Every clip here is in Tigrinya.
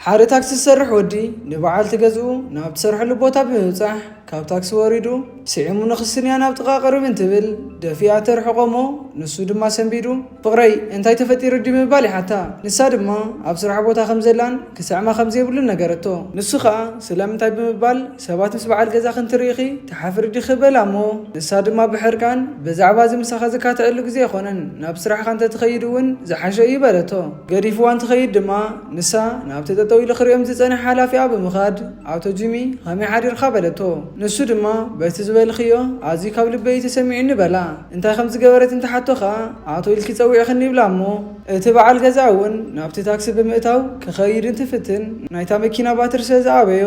ሓደ ታክሲ ዝሰርሕ ወዲ ንበዓልቲ ገዝኡ ናብ እትሰርሐሉ ቦታ ብምብጻሕ ካብ ታክሲ ወሪዱ ስዒሙ ንክስንያ ናብ ጥቓ ቅርብ እንትብል ደፊኣ ተርሕቖ እሞ ንሱ ድማ ሰንቢዱ ፍቕረይ እንታይ ተፈጢሩ ድዩ ብምባል ይሓታ ንሳ ድማ ኣብ ስራሕ ቦታ ከምዘላን ክስዕማ ከምዘይብሉን ነገረቶ ንሱ ከኣ ስለምንታይ ብምባል ሰባት ምስ በዓል ገዛኺ እንትርእዩኺ ትሓፍሪ ዲኺ? በላ እሞ ንሳ ድማ ብሕርቃን፣ ብዛዕባ እዚ ምሳኻ ዝካትዐሉ ግዜ ኣይኮነን፣ ናብ ስራሕኻ እንተትኸይድ እውን ዝሓሸ እዩ በለቶ። ገዲፍዋ እንትኸይድ ድማ ንሳ ናብቲ ጠጠው ኢሉ ክርእዮም ዝጸንሐ ሓላፊኣ ብምኻድ ኣቶ ጂሚ ኸመይ ሓዲርካ? በለቶ። ንሱ ድማ በቲ ዝበልኽዮ ኣዝዩ ካብ ልበይ እዩ ተሰሚዑኒ በላ። እንታይ ከም ዝገበረት እንትሓቶ ኸኣ ኣቶ ኢልኪ ጸዊዕኽኒ ይብላ እሞ፣ እቲ በዓል ገዛ እውን ናብቲ ታክሲ ብምእታው ክኸይድ እንትፍትን ናይታ መኪና ባትሪ ስለ ዝኣበዮ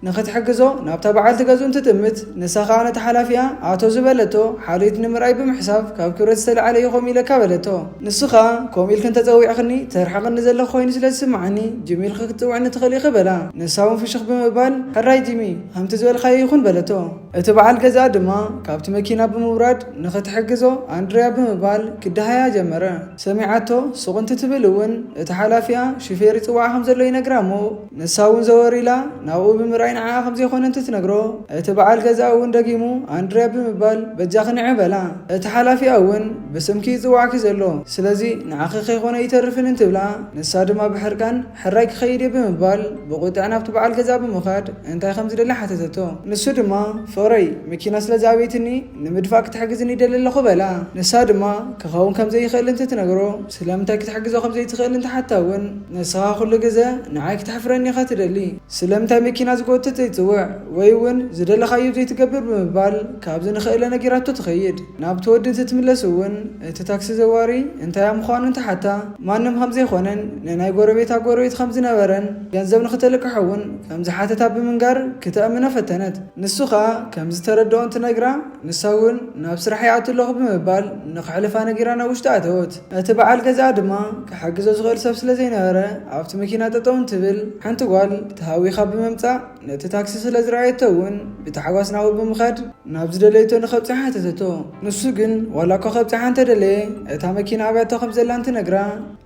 ንኽትሕግዞ ናብታ በዓልቲ ገዝኡ እንትጥምት ንሳ ከኣ ነቲ ሓላፊኣ ኣቶ ዝበለቶ ሓልዮት ንምርኣይ ብምሕሳብ ካብ ክብረት ዝተለዓለ እዩ ከምኡ ኢለካ በለቶ። ንሱ ከኣ ከምኡ ኢልኪ እንተጸዊዕኽኒ ተርሕቕኒ ዘለኺ ኮይኑ ስለ ዝስመዓኒ ጂሚ ኢልኺ ክትጽውዕኒ ትኽእሊ ኢኺ በላ። ንሳ እውን ፍሽኽ ብምባል ሕራይ ጂሚ ከምቲ ዝበልካዮ ይኹን በለቶ። እቲ በዓል ገዛ ድማ ካብቲ መኪና ብምውራድ ንኽትሕግዞ ኣንድርያ ብምባል ክደሃያ ጀመረ። ሰሚዓቶ ሱቕ እንትትብል እውን እቲ ሓላፊኣ ሹፌር ይጽውዓ ከም ዘሎ ይነግራ እሞ ንሳ እውን ዘወር ኢላ ናብኡ ብምርኣይ ንዓኣ ከም ዘይኮነ እንትትነግሮ እቲ በዓል ገዛ እውን ደጊሙ ኣንድርያ ብምባል በጃኺ ንዒ በላ። እቲ ሓላፊኣ እውን ብስምኪ እዩ ዝጽውዓኪ ዘሎ ስለዚ ንዓኺ ከይኮነ ኣይተርፍን እንትብላ ንሳ ድማ ብሕርቃን ሕራይ ክኸይድ'የ ብምባል ብቑጥዐ ናብቲ በዓል ገዛ ብምኻድ እንታይ ከም ዝደሊ ሓተተቶ። ንሱ ድማ፣ ፍቕረይ፣ መኪና ስለ ዝኣበየትኒ ንምድፋእ ክትሕግዝኒ ይደሊ ኣለኹ በላ። ንሳ ድማ፣ ክኸውን ከም ዘይኽእል እንትትነግሮ፣ ስለምንታይ ክትሕግዞ ከም ዘይትኽእል እንትሓታ'ውን፣ ንስኻ ኩሉ ግዘ ንዓይ ክተሕፍረኒ ኢኻ ትደሊ፣ ስለምንታይ መኪና ዝጎትት ዘይትጽውዕ ወይ'ውን ዝደለኻዮ ዘይትገብር ብምባል ካብዚ ንኽእለ ነጊራቶ ትኸይድ። ናብቲ ወዲ እንትትምለስ እውን እቲ ታክሲ ዘዋሪ እንታያ ምዃኑ እንትሓታ ማንም ከምዘይኾነን ንናይ ጎረቤታ ጎረቤት ከምዝነበረን ገንዘብ ንክተልቅሖ እውን ከምዝሓተታ ብምንጋር ክተእምኖ ፈተነት። ንሱ ከኣ ከምዝተረደኦ እንትነግራ ንሳ እውን ናብ ስራሕ ይኣቱ ኣለኹ ብምባል ንክሕልፋ ነጊራ ናብ ውሽጢ ኣተወት። እቲ በዓል ገዝኣ ድማ ክሕግዞ ዝኽእል ሰብ ስለዘይነበረ ኣብቲ መኪና ጠጠው እንትብል ሓንቲ ጓል ተሃዊኻ ብምምጻእ፣ ነቲ ታክሲ ስለ ዝረኣየቶ እውን ብታሕጓስ ናብኡ ብምኻድ ናብ ዝደለየቶ ንኸብጽሓ ሓተተቶ። ንሱ ግን ዋላ እኳ ከብጽሓ እንተደለየ እታ መኪና ኣብያቶ ከም ዘላ እንትነግራ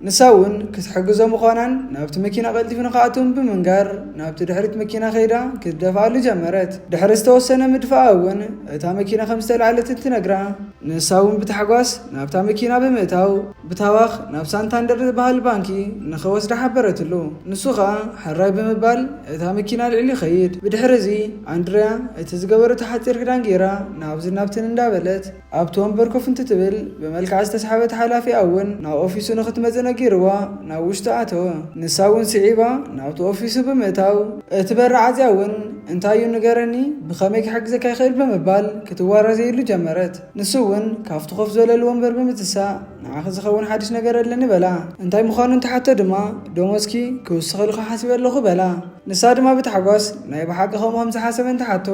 ንሳ እውን ክትሕግዞ ምዃናን ናብቲ መኪና ቀልጢፉ ንኽኣቱን ብምንጋር ናብቲ ድሕሪት መኪና ከይዳ ክትደፍኣሉ ጀመረት። ድሕሪ ዝተወሰነ ምድፍኣ እውን እታ መኪና ከም ዝተላዕለት እንትነግራ ንሳ እውን ብታሕጓስ ናብታ መኪና ብምእታው ብታዋኽ ናብ ሳንታንደር ዝበሃል ባንኪ ንኽወስዳ ሓበረትሉ። ንሱ ኸኣ ሕራይ ብምባል እታ መኪና ኣልዒሉ ይኸይድ። ብድሕርዚ ኣንድርያ እቲ ዝገበረቶ ሓጺር ክዳን ገይራ ናብዝን ናብትን እንዳበለት ኣብቲ ወንበር ኮፍ እንትትብል ብመልክዓ ዝተስሓበት ሓላፊኣ እውን ናብ ኦፊሱ ንኽትመጽእ ነጊርዋ ናብ ውሽጢ ኣተወ። ንሳ እውን ስዒባ ናብቲ ኦፊሱ ብምእታው። እቲ በሪ ዓጽያ እውን እንታይ እዩ ንገረኒ ብኸመይ ክሕግዘካ ይኽእል ብምባል ክትዋራዘየሉ ጀመረት። ንሱ እውን ካብቲ ኮፍ ዝበለሉ ወንበር ብምትሳእ ንዓኺ ዝኸውን ሓድሽ ነገር ኣለኒ በላ። እንታይ ምዃኑ እንትሓቶ ድማ ደሞዝኪ ክውስኸልኹ ሓሲበ ኣለኹ በላ። ንሳ ድማ ብታሕጓስ ናይ ብሓቂ ከምኡ ከም ዝሓሰበ እንትሓቶ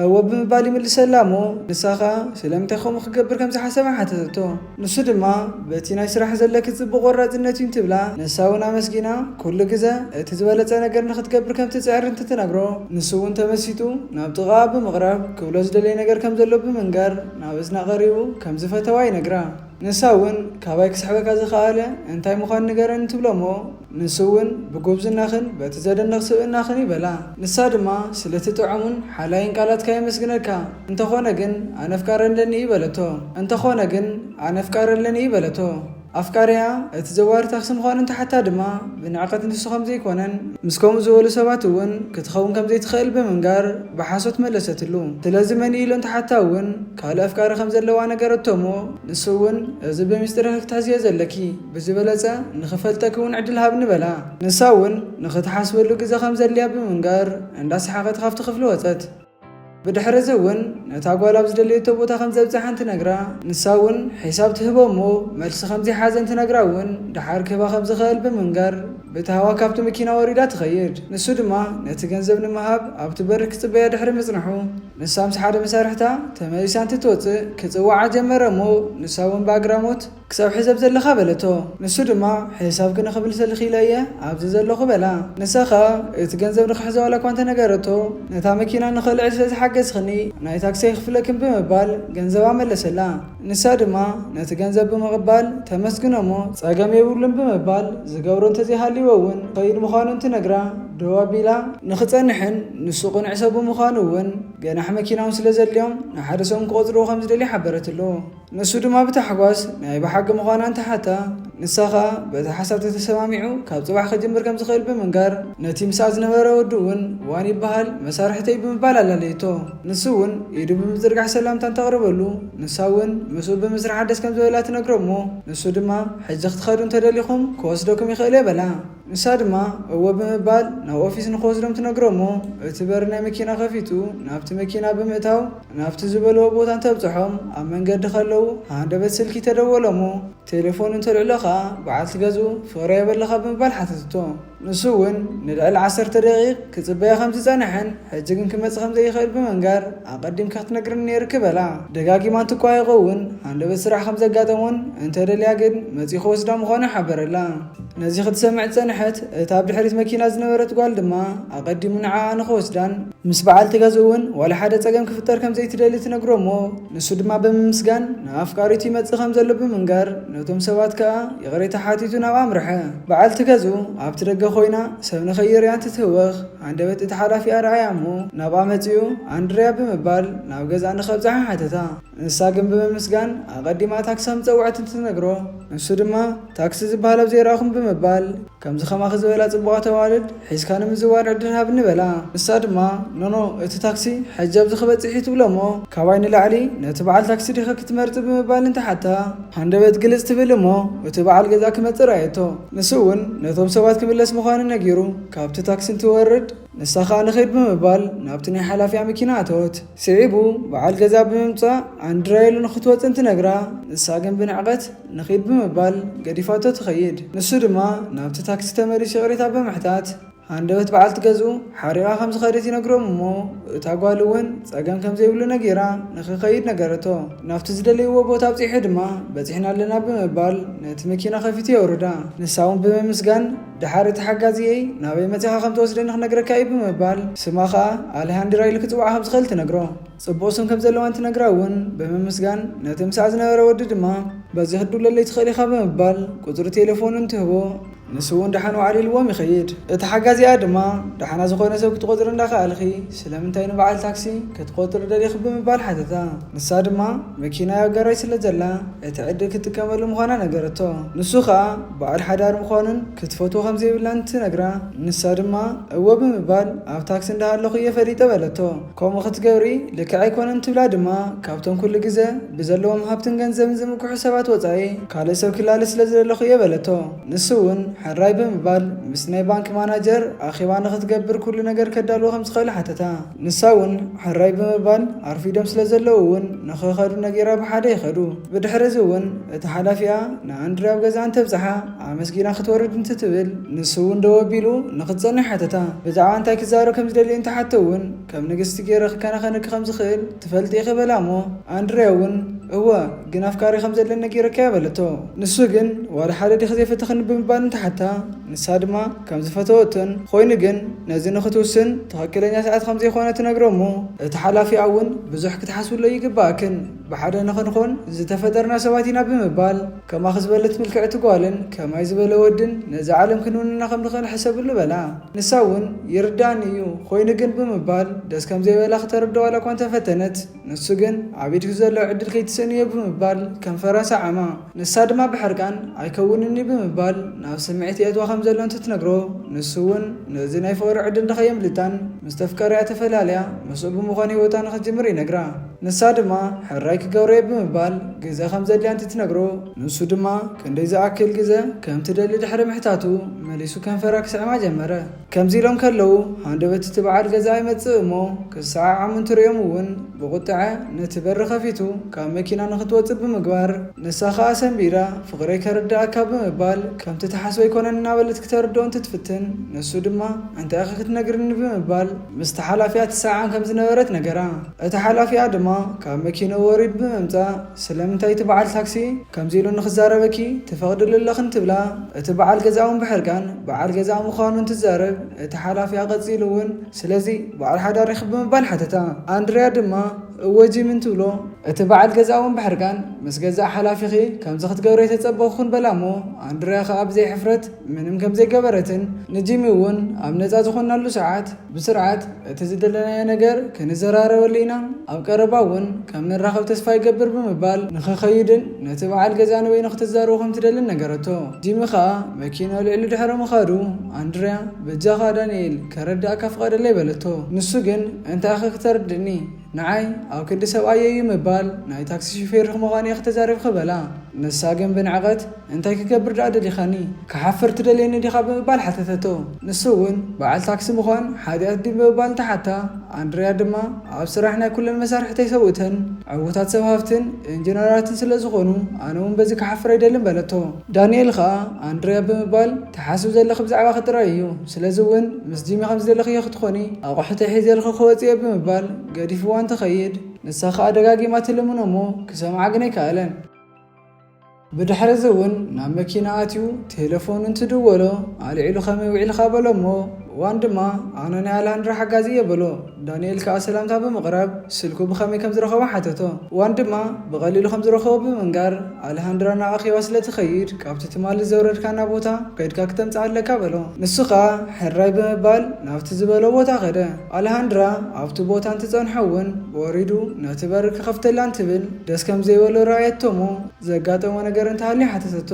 እወ ብምባል ይምልሰላ እሞ ንሳ ከኣ ስለምንታይ ከምኡ ክገብር ከም ዝሓሰበ ሓተተቶ። ንሱ ድማ በቲ ናይ ስራሕ ዘለኪ ጽቡቕ ቆራጽነት እዩ እንትብላ ንሳ እውን ኣመስጊና ኩሉ ግዘ እቲ ዝበለፀ ነገር ንክትገብር ከምትፅዕር እንትትነግሮ ንሱ እውን ተመሲጡ ናብ ጥቓኣ ብምቕራብ ክብሎ ዝደለየ ነገር ከምዘሎ ብምንጋር ናብ እዝና ቀሪቡ ከምዝፈተዋ ይነግራ። ንሳ እውን ካባይ ክስሕበካ ዝኸኣለ እንታይ ምዃኑ ንገረኒ ትብሎ እሞ ንሱ እውን ብጉብዝናኽን በቲ ዘደንቕ ስብእናኽን ይበላ። ንሳ ድማ ስለቲ ጥዑሙን ሓላይን ቃላትካ የመስግነካ እንተኾነ ግን ኣነ ኣፍቃሪ ኣለኒ በለቶ እንተኾነ ግን ኣነ ኣፍቃሪ ኣለኒ በለቶ። ኣፍቃሪኣ እቲ ዘዋሪ ታክሲ ምዃኑ እንተሓታ ድማ ብንዕቀት ንሱ ከምዘይኮነን ምስ ከምኡ ዝበሉ ሰባት እውን ክትኸውን ከምዘይትኽእል ብምንጋር ብሓሶት መለሰትሉ። ስለዚ መን እዩ ኢሎ እንተሓታ እውን ካልእ ኣፍቃሪ ከምዘለዋ ነገረቶ እሞ ንሱ እውን እዚ ብሚስጢርኺ ክትሕዝዮ ዘለኪ ብዝበለፀ ንኽፈልጠኪ እውን ዕድል ሃብኒ በላ። ንሳ እውን ንኽትሓስበሉ ግዘ ከምዘድልያ ብምንጋር እንዳሰሓቐት ካብቲ ክፍሊ ወፀት። ብድሕር'ዚ እውን ነታ ጓል ኣብ ዝደለየቶ ቦታ ከም ዘብጽሓን ትነግራ። ንሳ እውን ሒሳብ ትህቦ እሞ መልሲ ከም ዘይሓዘን ትነግራ እውን ደሓር ክህባ ከም ዝኸእል ብምንጋር ብእቲ ሃዋ ካብቲ መኪና ወሪዳ ትኸይድ። ንሱ ድማ ነቲ ገንዘብ ንምሃብ ኣብቲ በሪ ክጽበያ ድሕሪ ምጽንሑ ንሳ ምስ ሓደ መሳርሕታ ተመሊሳ እንትትወጽእ ክጽውዓ ጀመረ እሞ ንሳ እውን ብኣግራሞት ክሳብ ሕዚ ኣብ ዘለኻ በለቶ። ንሱ ድማ ሕሳብ ክንኽብል ስለ ኽኢለ እየ ኣብዚ ዘለኹ በላ። ንሳ ኸኣ እቲ ገንዘብ ንኽሕዞ ዋላ እኳ እንተ ነገረቶ፣ ነታ መኪና ንኽእልዕል ስለ ዝሓገዝክኒ ናይ ታክሲ ኣይኽፍለክን ብምባል ገንዘባ መለሰላ። ንሳ ድማ ነቲ ገንዘብ ብምቕባል ተመስግኖ እሞ፣ ጸገም የብሉን ብምባል ዝገብሮ እንተ ዘይሃልይዎ እውን ክኸይድ ምዃኑ እንትነግራ ደው ኣቢላ፣ ንኽጸንሕን ንሱ ቅኑዕ ሰብ ብምዃኑ እውን ገናሕ መኪና እውን ስለ ዘድልዮም ንሓደ ሰሙን ክቖጽርዎ ከም ዝደልያ ሓበረትሉ። ንሱ ድማ ብታሕጓስ ናይ ብሓቂ ምዃና እንተሓታ፣ ንሳ ኸኣ በቲ ሓሳብ ተተሰማሚዑ ካብ ጽባሕ ክጅምር ከም ዝኽእል ብምንጋር፣ ነቲ ምስኣ ዝነበረ ወዲ'ውን ዋን ይበሃል መሳርሕተይ ብምባል ኣላለየቶ። ንሱ'ውን ኢዱ ብምዝርጋሕ ሰላምታ እንተቕርበሉ፣ ንሳ'ውን ምስኡ ብምስራሓ ደስ ከም ዝበላ ትነግሮ'ሞ፣ ንሱ ድማ ሕጂ ክትኸዱ እንተደሊኹም ክወስደኩም ይኽእል'የ በላ። ንሳ ድማ እወ ብምባል ናብ ኦፊስ ንክወስዶም ትነግሮም'ሞ እቲ በሪ ናይ መኪና ከፊቱ ናብቲ መኪና ብምእታው ናብቲ ዝበልዎ ቦታ እንተብጽሖም ኣብ መንገዲ ከለዉ ሃንደበት ስልኪ ተደወሎ'ሞ ቴለፎን እንተልዕሎ ከኣ በዓልቲ ገዝኡ ፍቕረይ ኣበለኻ ብምባል ሓተተቶ። ንሱ'ውን ንልዕሊ ዓሰርተ ደቒቕ ክጽበያ ከምዝጸንሐን ሕጂ ግን ክመጽእ ከምዘይኽእል ብምንጋር ኣቐዲምካ ክትነግረኒ ነይሩኪ በላ። ደጋጊማ እንትቋየቖ'ውን ሃንደበት ስራሕ ከምዘጋጠሞን እንተደልያ ግን መጺኡ ክወስዳ ምዃኑ ሓበረላ። ነዚ ክትሰምዕ ጸንሐት፣ እታ ኣብ ድሕሪት መኪና ዝነበረት ጓል ድማ ኣቐዲሙ ንዓኣ ንኽወስዳን ምስ በዓልቲ ገዝኡ እውን ዋላ ሓደ ጸገም ክፍጠር ከም ዘይትደሊ ትነግሮ እሞ ንሱ ድማ ብምምስጋን ንኣፍቃሪቱ ይመጽእ ከም ዘሎ ብምንጋር ነቶም ሰባት ከኣ ይቕሬታ ሓቲቱ ናብ ኣምርሐ። በዓልቲ ገዝኡ ኣብቲ ደገ ኮይና ሰብ ንኸይርእያ እንትትህወኽ ሃንደበት እቲ ሓላፊኣ ረኣያ እሞ ናብኣ መጺኡ ኣንድርያ ብምባል ናብ ገዝኣ ንኸብጽሓ ሓተታ። ንሳ ግን ብምምስጋን ኣቐዲማ ታክሲ ከም ዝጸውዐት እንትትነግሮ ንሱ ድማ ታክሲ ዝበሃል ኣብ ዘይረኣኹን ብምባል፣ ከምዚ ከማኺ ዝበላ ጽቡቓት ኣዋልድ ሒዝካ ንምዝዋር ዕድል ሃብኒ በላ። ንሳ ድማ፣ ኖኖ፣ እቲ ታክሲ ሕጂ ኣብዚ ክበጽሕ እዩ ትብሎ እሞ፣ ካባይ ንላዕሊ ነቲ በዓል ታክሲ ዲኺ ክትመርጺ ብምባል እንትሓታ፣ ሃንደበት ግልጽ ትብል እሞ እቲ በዓል ገዛ ክመጽእ ርኣየቶ። ንሱ እውን ነቶም ሰባት ክምለስ ምዃኑ ነጊሩ ካብቲ ታክሲ እንትወርድ፣ ንሳ ከኣ ንኺድ ብምባል ናብቲ ናይ ሓላፊኣ መኪና ኣተወት። ስዒቡ በዓል ገዛ ብምምጻእ ኣንድራየሉ ንኽትወጽእ እንትነግራ፣ ንሳ ግን ብንዕቀት፣ ንኺድ ብምባል ገዲፋቶ ትኸይድ። ንሱ ድማ ናብቲ ታክሲ ተመሊሱ ይቕሬታ ኣብ ብምሕታት ሃንደበት በዓልቲ ገዝኡ ሓሪቓ ከም ዝኸደት ይነግሮም እሞ እታ ጓል እውን ጸገም ከም ዘይብሉ ነጊራ ንኽኸይድ ነገረቶ። ናብቲ ዝደለይዎ ቦታ ኣብጺሑ ድማ በጺሕና ኣለና ብምባል ነቲ መኪና ከፊቱ የውርዳ። ንሳ እውን ብምምስጋን ደሓር እቲ ሓጋዚየይ ናበይ መጺኻ ከም ትወስደኒ ክነግረካ እዩ ብምባል ስማ ከኣ ኣሌሃንድራ ኢሉ ክጽውዓ ከም ዝኽእል ትነግሮ። ጽቡቕ ስም ከም ዘለዋን ትነግራ እውን ብምምስጋን፣ ነቲ ምስኣ ዝነበረ ወዲ ድማ፣ በዚ ክትድውለለይ ትኽእል ኢኻ ብምባል ቁጽሪ ቴለፎኑን ትህቦ፣ ንሱ እውን ደሓን ወዓል ኢልዎም ይኸይድ። እቲ ሓጋዚኣ ድማ፣ ደሓና ዝኾነ ሰብ ክትቆጽሪ እንዳኸኣልኺ ስለምንታይ ንበዓል ታክሲ ክትቆጽሪ ደሊኺ ብምባል ሓተታ። ንሳ ድማ መኪናይ ኣብ ጋራጅ ስለ ዘላ እቲ ዕድል ክትጥቀመሉ ምዃና ነገረቶ። ንሱ ከኣ በዓል ሓዳር ምዃኑን ክትፈትዎ ከም ዘይብላን ትነግራ፣ ንሳ ድማ እወ ብምባል ኣብ ታክሲ እንዳሃለኹ እየ ፈሊጠ በለቶ። ከምኡ ክትገብሪ ልክዕ ኣይኮነን ትብላ ድማ ካብቶም ኩሉ ግዘ ብዘለዎም ሃብትን ገንዘብን ዝምክሑ ሰባት ወፃኢ ካልእ ሰብ ክላሊ ስለ ዝደለኹ እየ በለቶ። ንሱ እውን ሕራይ ብምባል ምስ ናይ ባንክ ማናጀር ኣኼባ ንኽትገብር ኩሉ ነገር ከዳልዎ ከም ዝኽእል ሓተታ። ንሳ እውን ሕራይ ብምባል ኣርፊዶም ስለ ዘለዉ እውን ንኽኸዱ ነጊራ ብሓደ ይኸዱ። ብድሕሪ እዚ እውን እቲ ሓላፊኣ ንኣንድሪ ኣብ ገዛ እንተብፅሓ፣ ኣመስጊና ክትወርድ እንትትብል ንሱ እውን ደው ኣቢሉ ንኽትጸንሕ ሓተታ። ብዛዕባ እንታይ ክዛረብ ከም ዝደሊ እንተሓቶ እውን ከም ንግስቲ ገይረ ክከናኸነኪ ከም ዝኽእል ትፈልጢ ኢኺ በላ እሞ ኣንድርያ እውን እወ ግን ኣፍቃሪ ከም ዘለኒ ነጊረኪያ በለቶ። ንሱ ግን ዋላ ሓደ ዲኺ ዘይፈተኽኒ ብምባል እንተሓታ ንሳ ድማ ከም ዝፈተወቶን ኾይኑ ግን ነዚ ንኽትውስን ትኽክለኛ ሰዓት ከም ዘይኮነ ትነግሮ እሞ እቲ ሓላፊኣ እውን ብዙሕ ክትሓስብሎ ኣይግበኣክን ብሓደ ንኽንኾን ዝተፈጠርና ሰባት ኢና ብምባል ከማኺ ዝበለት ምልክዕቲ ጓልን ከማይ ዝበለ ወድን ነዛ ዓለም ክንውንና ከም ንኽእል ሕሰብሉ በላ። ንሳ እውን ይርድኣኒ እዩ፣ ኾይኑ ግን ብምባል ደስ ከም ዘይበላ ክተረድኦ ዋላ እኳ እንተ ፈተነት፣ ንሱ ግን ኣብ ኢድኪ ዘሎ ዕድል ከይትስእኒ እየ ብምባል ከንፈራ ሰዓማ። ንሳ ድማ ብሕርቃን ኣይከውንን እዩ ብምባል ናብ ስምዒት የእትዋ ከም ዘሎ እንትትነግሮ፣ ንሱ እውን ነዚ ናይ ፍቕሪ ዕድል ንኸየምልጣን ምስ ተፍቀረያ ተፈላልያ ምስኡ ብምዃን ህይወታ ንኽትጅምር ይነግራ። ንሳ ድማ ሕራይ ክገብሮ'የ ብምባል ግዘ ከም ዘድልያ እንትትነግሮ፣ ንሱ ድማ ክንደይ ዝኣክል ግዘ ከም ትደሊ ድሕሪ ምሕታቱ፣ መሊሱ ከንፈራ ክስዕማ ጀመረ። ከምዚ ኢሎም ከለዉ ሃንደበት እቲ በዓል ገዛ ይመጽእ እሞ ክሰዓዓሙ እንትርእዮም እውን ብቑጥዐ ነቲ በሪ ከፊቱ ካብ መኪና ንኽትወጽእ ብምግባር፣ ንሳ ከኣ ሰምቢዳ ፍቕረይ ከርደኣካ ብምባል ከምቲ ትሓስቦ ኣይኮነን እናበለት ክተርድኦ እንትትፍትን፣ ንሱ ድማ እንታይ'ኸ ክትነግርኒ ብምባል፣ ምስቲ ሓላፊኣ ትሰዓዓም ከም ዝነበረት ነገራ። እቲ ሓላፊኣ ድማ ካብ መኪንኡ ወሪዱ ብምምጻእ፣ ስለምንታይ እቲ በዓል ታክሲ ከምዚ ኢሉ ንኽዛረበኪ ትፈቕድሉ ኣለኺ እንትብላ፣ እቲ በዓል ገዛ'ውን ብሕርቃን በዓል ገዛኣ ምዃኑ እንትዛረብ፣ እቲ ሓላፊኣ ቀጺሉ'ውን ስለዚ በዓል ሓዳር ኢኺ ብምባል ሓተታ። ኣንድርያ ድማ እወ ጂሚ እንትብሎ፣ እቲ በዓል ገዛ'ውን ብሕርቃን ምስ ገዛእ ሓላፊኺ ከምዚ ክትገብሪ ኣይተጸበኹኩን በላ'ሞ ኣንድርያ ከኣ ብዘይ ሕፍረት፣ ምንም ከም ዘይገበረትን ንጂሚ እውን ኣብ ነፃ ዝኾናሉ ሰዓት ብስርዓት እቲ ዝደለናዮ ነገር ክንዘራረበሉ ኢና፣ ኣብ ቀረባ እውን ከም ንራኸብ ተስፋ ይገብር ብምባል ንኽኸይድን ነቲ በዓል ገዝኣ ንበይኑ ክትዛረቦ ከም ትደልን ነገረቶ። ጂሚ ከኣ መኪና ኣልዒሉ ድሕሪ ምኻዱ ኣንድርያ በጃኻ ዳንኤል ከረድኣካ ፍቐደለይ በለቶ። ንሱ ግን እንታይ'ኸ ክተርድእኒ? ንዓይ ኣብ ክንዲ ሰብኣየይ'ዩ ምባል፣ ናይ ታክሲ ሹፌርኺ ምዃን'የ ክተዛርብኪ በላ። ንሳ ግን ብንዕቐት፣ እንታይ ክገብር ደኣ ደሊኻኒ? ክሓፍር ትደልየኒ ዲኻ? ብምባል ሓተተቶ። ንሱ'ውን በዓል ታክሲ ምዃን ሓጢኣት ድዩ? ብምባል እንተሓታ፣ ኣንድርያ ድማ ኣብ ስራሕ ናይ ኩለን መሳርሕተይ ሰብኡተን ዕዉታት ሰብ ሃፍትን ኢንጂነራትን ስለዝኾኑ ኣነ'ውን በዚ ክሓፍር ኣይደልን በለቶ። ዳኒኤል ከኣ ኣንድርያ ብምባል፣ ትሓስብ ዘለኺ ብዛዕባኺ ጥራይ እዩ፣ ስለዚ እውን ምስ ጂሚ ከም ዝደለኽዮ ክትኾኒ ኣቑሑተይ ሒዘልኺ ክወጽእ እየ ብምባል ገዲፍዋ እንትኸይድ፣ ንሳ ከኣ ደጋጊማ ትልምኖ እሞ ክሰምዓ ግን ኣይከኣለን። ብድሕርዚ እውን ናብ መኪና ኣትዩ ቴለፎን እንትድወሎ ኣልዒሉ ከመይ ውዒልካ በሎ እሞ ብእዋን ድማ ኣነ ናይ ኣልሃንድራ ሓጋዚ እየ በሎ። ዳንኤል ከኣ ሰላምታ ብምቕራብ ስልኩ ብኸመይ ከም ዝረኸቦ ሓተቶ። ዋን ድማ ብቐሊሉ ከም ዝረኸቦ ብምንጋር፣ ኣለሃንድራ ናብ ኣኼባ ስለ ትኸይድ ካብቲ ትማሊ ዘውረድካና ቦታ ከድካ ክተምጽኣ ኣለካ በሎ። ንሱ ከኣ ሕራይ ብምባል ናብቲ ዝበሎ ቦታ ከደ። ኣለሃንድራ ኣብቲ ቦታ እንትጸንሖ እውን ወሪዱ ነቲ በሪ ክኸፍተላ እንትብል ደስ ከም ዘይበሎ ረኣየቶ'ሞ ዘጋጠሞ ነገር እንተሃልዩ ሓተተቶ።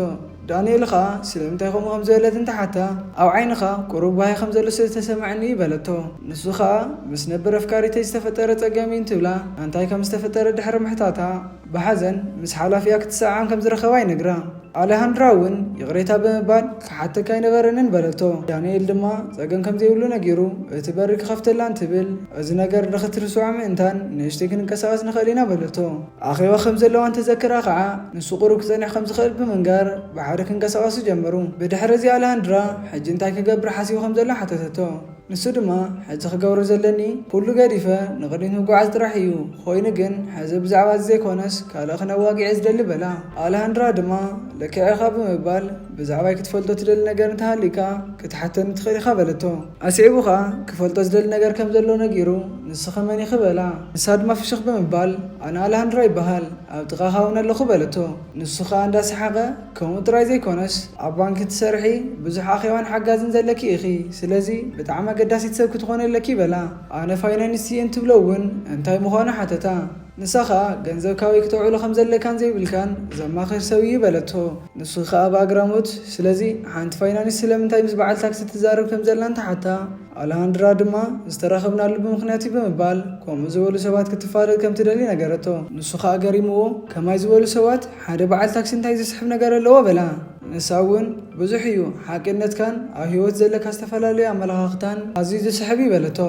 ዳንኤል ኸኣ ስለምንታይ ከምኡ ከም ዝበለት እንተ ሓታ፣ ኣብ ዓይንኻ ቍሩብ ጓሂ ከም ዘሎ ስለ ዝተሰምዐኒ እዩ በለቶ። ንሱ ኸኣ ምስ ነበር ኣፍቃሪተይ ዝተፈጠረ ጸገም እዩ እንትብላ ኣንታይ ከም ዝተፈጠረ ድሕሪ ምሕታታ ብሓዘን ምስ ሓላፊኣ ክትሰዓዓም ከም ዝረኸባ ይነግራ። ኣለሃንድራ እውን ይቕሬታ ብምባል ክሓተካ ኣይነበረንን በለቶ። ዳንኤል ድማ ጸገም ከም ዘይብሉ ነጊሩ እቲ በሪ ክኸፍተላ እንትብል እዚ ነገር ንኽትርስዖ ምእንታን ንእሽተይ ክንንቀሳቐስ ንኽእል ኢና በለቶ። ኣኼባ ከም ዘለዋ እንተዘክራ ከኣ፣ ንሱ ቁሩብ ክጸንሕ ከም ዝኽእል ብምንጋር፣ ብሓደ ክንቀሳቐሱ ጀመሩ። ብድሕሪ እዚ ኣልሃንድራ፣ ሕጂ እንታይ ክገብር ሓሲቡ ከም ዘሎ ሓተተቶ። ንሱ ድማ፣ ሕጂ ክገብሮ ዘለኒ፣ ኩሉ ገዲፈ ንቕድሚት ምጉዓዝ ጥራሕ ኢዩ። ኮይኑ ግን፣ ሕዚ ብዛዕባ እዚ ዘይኮነስ ካልእ ክነዋግዕ ኢየ ዝደሊ በላ። ኣልሃንድራ ድማ፣ ልክዕ ኢኻ ብምባል፣ ብዛዕባይ ክትፈልጦ ትደሊ ነገር እንተሃልዩካ ክትሓተኒ ትኽእል ኢኻ በለቶ። ኣስዒቡ ከኣ ክፈልጦ ዝደሊ ነገር ከም ዘሎ ነጊሩ፣ ንስኺ መን ኢኺ? በላ። ንሳ ድማ ፍሽኽ ብምባል፣ ኣነ ኣልሃንድራ ይበሃል፣ ኣብ ጥቓኻ እውን ኣለኹ በለቶ። ንሱ ከኣ እንዳ ሰሓቐ፣ ከምኡ ጥራይ ዘይኮነስ፣ ኣብ ባንክ ትሰርሒ፣ ብዙሕ ኣኼባን ሓጋዝን ዘለኪ ኢኺ፣ ስለዚ ብጣዕሚ ኣገዳሲት ሰብ ክትኾኒ ኣለኪ በላ። ኣነ ፋይናንስ እየ እንትብሎ እውን እንታይ ምዃኑ ሓተታ። ንሳኻ ገንዘብ ካበይ ክተውዕሎ ከም ዘለካን ዘይብልካን ዘማኽር ሰብ እዩ በለቶ። ንሱ ኸኣ ብኣግራሞት፣ ስለዚ ሓንቲ ፋይናንስ ስለምንታይ ምስ በዓል ታክሲ ትዛረብ ከም ዘላን ትሓታ። ኣለሃንድራ ድማ፣ ዝተራኸብናሉ ብምኽንያት እዩ ብምባል፣ ከምኡ ዝበሉ ሰባት ክትፋለጥ ከም ትደሊ ነገረቶ። ንሱ ኸኣ ገሪምዎ፣ ከማይ ዝበሉ ሰባት፣ ሓደ በዓል ታክሲ እንታይ ዘስሕብ ነገር ኣለዎ? በላ። ንሳ እውን ብዙሕ እዩ ሓቂነትካን ኣብ ህይወት ዘለካ ዝተፈላለዩ ኣመለኻኽታን ኣዝዩ ዝስሕብ እዩ በለቶ።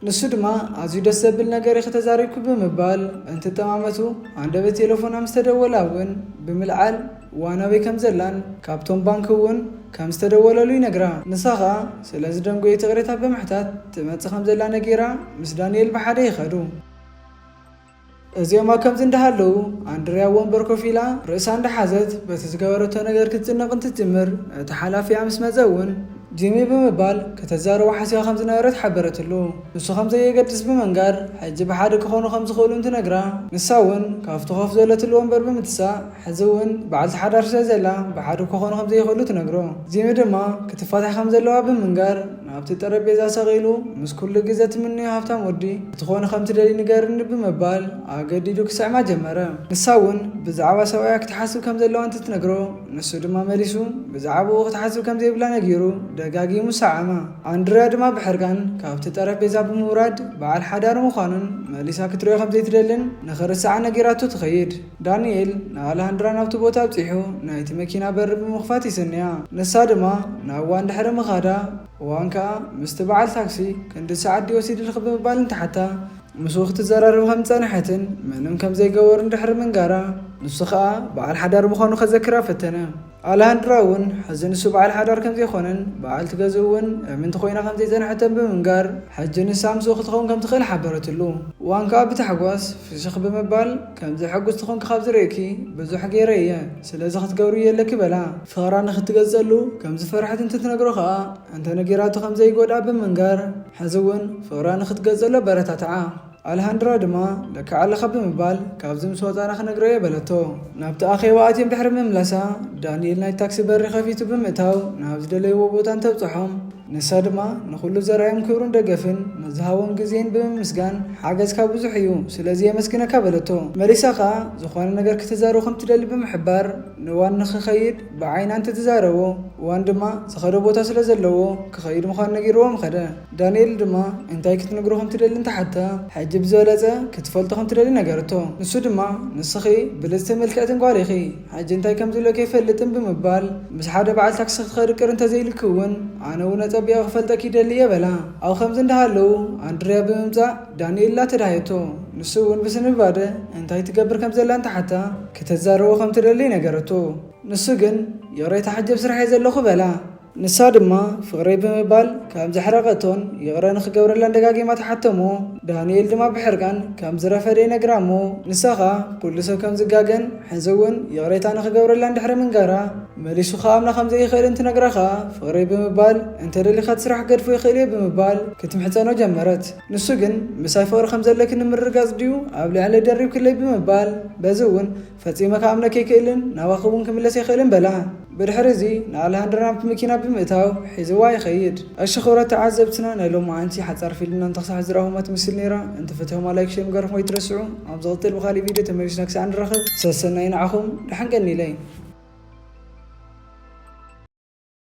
ንሱ ድማ ኣዝዩ ደስ ዘብል ነገር ኢኺ ተዛሪብኪ ብምባል እንትጠማመቱ ኣንደበት ቴለፎና ምስ ተደወላ እውን ብምልዓል ዋን ኣበይ ከም ዘላን ካብቶም ባንኪ እውን ከም ዝተደወለሉ ይነግራ። ንሳ ከኣ ስለ ዝደንጎየት ይቕሬታ ብምሕታት ትመጽእ ከም ዘላ ነጊራ ምስ ዳኒኤል ብሓደ ይኸዱ። እዚኦም ኣብ ከምዚ እንዳሃለዉ፣ ኣንድርያ ኣብ ወንበር ኮፍ ኢላ ርእሳ እንዳሓዘት በቲ ዝገበረቶ ነገር ክትጭነቕ እንትትጅምር፣ እቲ ሓላፊኣ ምስ መጸ እውን፣ ጂሚ ብምባል ከተዛርቦ ሓሲባ ከም ዝነበረት ሓበረትሉ። ንሱ ከም ዘየገድስ ብምንጋር፣ ሕጂ ብሓደ ክኾኑ ከም ዝኽእሉ እንትነግራ፣ ንሳ እውን ካብቲ ኮፍ ዝበለትሉ ወንበር ብምትሳእ፣ ሕዚ እውን በዓልቲ ሓዳር ስለ ዘላ ብሓደ ክኾኑ ከም ዘይኽእሉ ትነግሮ። ጂሚ ድማ ክትፋታሕ ከም ዘለዋ ብምንጋር፣ ናብቲ ጠረጴዛ ሰቒሉ፣ ምስ ኩሉ ግዘ ትምነዮ ሃብታም ወዲ፣ ክትኾን ኸም ትደልይ ንገርኒ ብምባል ኣገዲዱ ክስዕማ ጀመረ። ንሳ እውን ብዛዕባ ሰብኣያ ክትሓስብ ከም ዘለዋ እንትትነግሮ፣ ንሱ ድማ መሊሱ ብዛዕባኡ ክትሓስብ ከም ዘይብላ ነጊሩ ደጋጊሙ ሰዓማ። ኣንድርያ ድማ ብሕርቃን ካብቲ ጠረጴዛ ብምውራድ በዓል ሓዳር ምዃኑን መሊሳ ክትሪኦ ከም ዘይትደልን ንኽርስዓ ነጊራቶ ትኸይድ። ዳንኤል ንኣላሃንድራ ናብቲ ቦታ ኣብጺሑ ናይቲ መኪና በሪ ብምኽፋት ይስንያ። ንሳ ድማ ናብ ዋን ድሕሪ ምኻዳ፣ ዋን ከኣ ምስቲ በዓል ታክሲ ክንድዚ ሰዓት ድዩ ወሲድልኪ ብምባል እንትሓታ፣ ምስኡ ክትዘራረብ ከም ዝጸንሐትን ምንም ከም ዘይገበሩን ድሕሪ ምንጋራ፣ ንሱ ከኣ በዓል ሓዳር ምዃኑ ከዘክራ ፈተነ። ኣላሃንድራ እውን ሕዚ ንሱ በዓል ሓዳር ከምዘይኮነን በዓልቲ ገዝኡ እውን እምንቲ ኮይና ከምዘይፀንሐተን ብምንጋር ሕጂ ንሳ ምስኡ ክትኸውን ከምትኽእል ሓበረትሉ። እዋን ከዓ ብታሕጓስ ፍሽኽ ብምባል ከምዚ ሕጉስቲ ኮንኪ ካብ ዝርእየኪ ብዙሕ ገይረ እየ ስለዚ ክትገብርዮ ኣለኪ በላ። ፍቕራ ንክትገልፀሉ ከምዝፈርሐት እንትትነግሮ ከዓ እንተነጊራቶ ከምዘይጎድኣ ብምንጋር ሕዚ እውን ፍቕራ ንክትገልፀሉ ኣበረታትዓ። ኣልሃንድራ ድማ ለክዓ ኣለኻ ብምባል ካብዚ ምስ ወጻእና ክነግረዮ በለቶ። ናብቲ ኣኼባ ኣትዮም ድሕሪ ምምላሳ ዳንኤል ናይ ታክሲ በሪ ከፊቱ ብምእታው ናብ ዝደለይዎ ቦታ እንተብጽሖም ንሳ ድማ ንኹሉ ዘርኣዮም ክብርን ደገፍን ንዝሃቦም ግዜን ብምምስጋን ሓገዝካ ብዙሕ እዩ ስለዚ የመስግነካ በለቶ። መሊሳ ከኣ ዝኾነ ነገር ክትዛረቦ ከም ትደሊ ብምሕባር ንዋን ንኽኸይድ ብዓይና እንተተዛረቦ ዋን ድማ ዝኸዶ ቦታ ስለ ዘለዎ ክኸይድ ምዃኑ ነጊርዎ ምኸደ። ዳንኤል ድማ እንታይ ክትነግሮ ከም ትደሊ እንተ ሓተታ፣ ሕጂ ብዝበለጸ ክትፈልጦ ከም ትደሊ ነገረቶ። ንሱ ድማ፣ ንስኺ ብልጽትን ምልክዕትን ጓል ኢኺ፣ ሕጂ እንታይ ከም ዝብለኪ ኣይፈልጥን ብምባል፣ ምስ ሓደ በዓል ታክሲ ክትኸዲ ቅር እንተ ዘይኢሉኪ እውን፣ ኣነ እውን ኣጸቢቐ ክፈልጠኪ ይደሊ እየ በላ። ኣብ ኸምዚ እንዳ ሃለዉ፣ ኣንድርያ ብምምጻእ ዳንኤላ ተዳህየቶ። ንሱ እውን ብስንብባደ እንታይ ትገብር ከም ዘላ እንተ ሓተታ፣ ክተዛርቦ ከም ትደሊ ነገረቶ። ንሱ ግን፣ ይቕሬታ ሕጂ ኣብ ስራሕ እየ ዘለኹ በላ። ንሳ ድማ ፍቕረይ ብምባል ከም ዘሕረቐቶን ይቕረ ንኽገብረላን ደጋጊማ ትሓተሞ። ዳንኤል ድማ ብሕርቃን ከም ዝረፈደ ይነግራ እሞ ንሳ ኸኣ ኩሉ ሰብ ከም ዝጋገን ሕዚ እውን ይቕሬታ ንኽገብረላን ድሕሪ ምንጋራ መሊሱ ክኣምና ከም ዘይኽእልን ትነግራ ኸኣ ፍቕረይ ብምባል እንተ ደሊኻ እቲ ስራሕ ክገድፎ ይኽእል እየ ብምባል ክትምሕጸኖ ጀመረት። ንሱ ግን ምሳይ ፍቕሪ ከም ዘለኪ ንምርግጋጽ ድዩ ኣብ ልዕለይ ደሪብክለይ ብምባል በዚ እውን ፈጺመ ክኣምነኪ ኣይክእልን፣ ናባኺ እውን ክምለስ ኣይክእልን በላ። ብድሕሪ እዚ ንኣለሃንድራ ናብቲ መኪና ብምእታው ሒዝዋ ይኸይድ። እሺ ክብረት ተዓዘብትና ናይ ሎምዓንቲ ሓጻር ፊልምና እንተክሳዕ ዝራኹማ ትምስል ኔራ እንተ ፈቲኹማ ላይክ ሼር ምግባርኩም ከይትረስዑ ኣብ ዝቅትል ብካሊእ ቪድዮ ተመሊስና ክሳዕ ንራኸብ ሰሰናዩ ንዓኹም ደሐን ቀኒለይ።